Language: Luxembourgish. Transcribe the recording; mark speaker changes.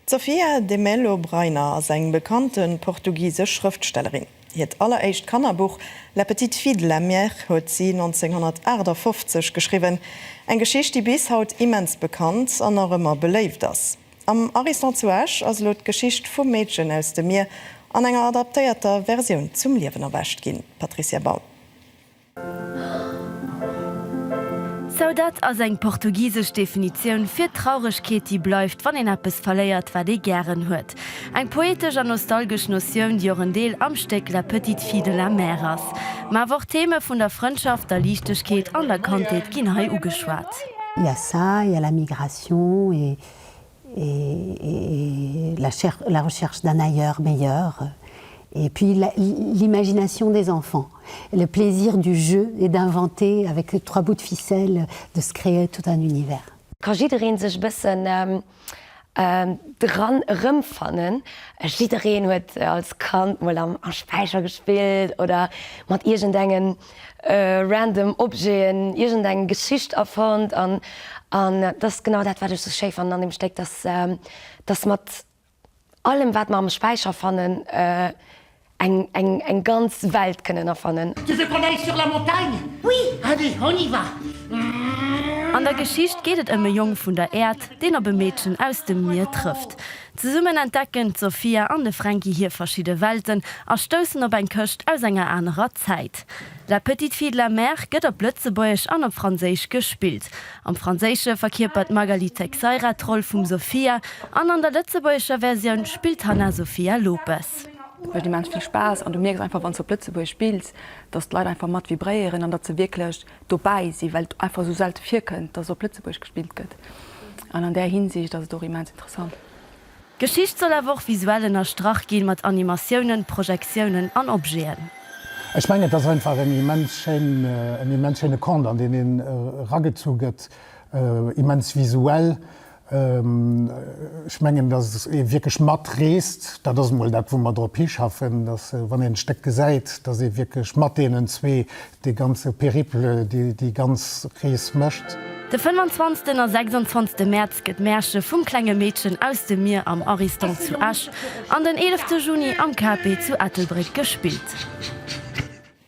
Speaker 1: D'Sofia de Melo Brainer ass eng bekannte portugisesch Schrëftstellerin. Hiert alleréischt Kannerbuch La petite fille de la mer huet si 1958 geschriwwen, eng Geschicht, déi bis haut immens bekannt an nach ëmmer beléift ass. Am Ariston zu Esch ass elo d'Geschicht vum Meedchen aus dem Mier an enger adaptéierter Versioun zum Liewen erwächt ginn, Patricia Baum.
Speaker 2: Saudade ass eng portugisesch Definitioun fir d'Trauregkeet, déi bleift, wann een eppes verléiert, wat ee gären huet. Eng poetesch an nostalgesch Notioun, déi och en Deel am Stéck La petite fille de la mer ass. Mä awer och Theme vun der Frëndschaft, der Liichtegkeet an der Kandheet ginn hei ugeschwat. Yassa,
Speaker 3: il y a la migration et et la recherche d'un ailleurs meilleur et puis l'imagination des enfants, le plaisir du jeu et d'inventer avec trois bouts de ficelle, de se créer tout un univers. Ka jiddereen sech
Speaker 4: e bëssen dran erëmfannen? Jiddereen huet als Kand mol am Späicher gespillt oder mat iergendengem. random Objeten, iergend eng Geschicht erfonnt an an dat ass genau dat wat ech sou schéi fannen an dem Stéck, dass dass mat allem wat mer am Späicher fannen eng eng eng ganz Welt kënnen erfannen. Tu veux qu'on aille sur la
Speaker 5: montagne? Oui! Allez, on y va!
Speaker 2: An der Geschicht geet et ëm e Jong vun der Äerd, deen op e Meedchen aus dem Mier trëfft. Zesummen entdecken d'Sofia an de Fränki hir verschidde Welten a stoussen op eng Këscht aus enger anerer Zäit. La petite fille de la mer gëtt op Lëtzebuergesch an op Franséisch gespillt. Am Franséische verkierpert d'Magali Teixeira d'Roll vum Sofia an an der lëtzebuergescher Versioun spillt d'Hanna Sofia Lopes. Et mécht immens vill
Speaker 6: Spaass an du mierks einfach, wann s de op Lëtzebuergesch spills, datt d'Leit einfach mat vibréieren an datt se wierklech dobäi sinn, well et einfach esou selte virkënnt, dass op Lëtzebuerg gespillt gëtt. An an där Hinsicht ass et och immens interessant. D'Geschicht
Speaker 2: soll awer och visuell ënnerstrach ginn, mat Animatiounen, Projektiounen an Objeten. Ech mengen, et ass
Speaker 7: einfach en immens schéin, en immens schéine Conte, an deen een eragezu gëtt, immens visuell. Ech mengen, datt ee wierklech matreest. Dat ass emol dat, wou mer drop hischaffen, datt, wann een d'Stéck gesäit, datt ee wierklech mat deenen zwee dee ganze Périple, déi ganz Rees mécht. De fënnwanzwanzten
Speaker 2: a sechsundzwanzte Mäerz gëtt Märche vum klenge Meedchen aus dem Mier am Ariston zu Esch an den eelefte Juni am KP zu Ettelbréck gespillt.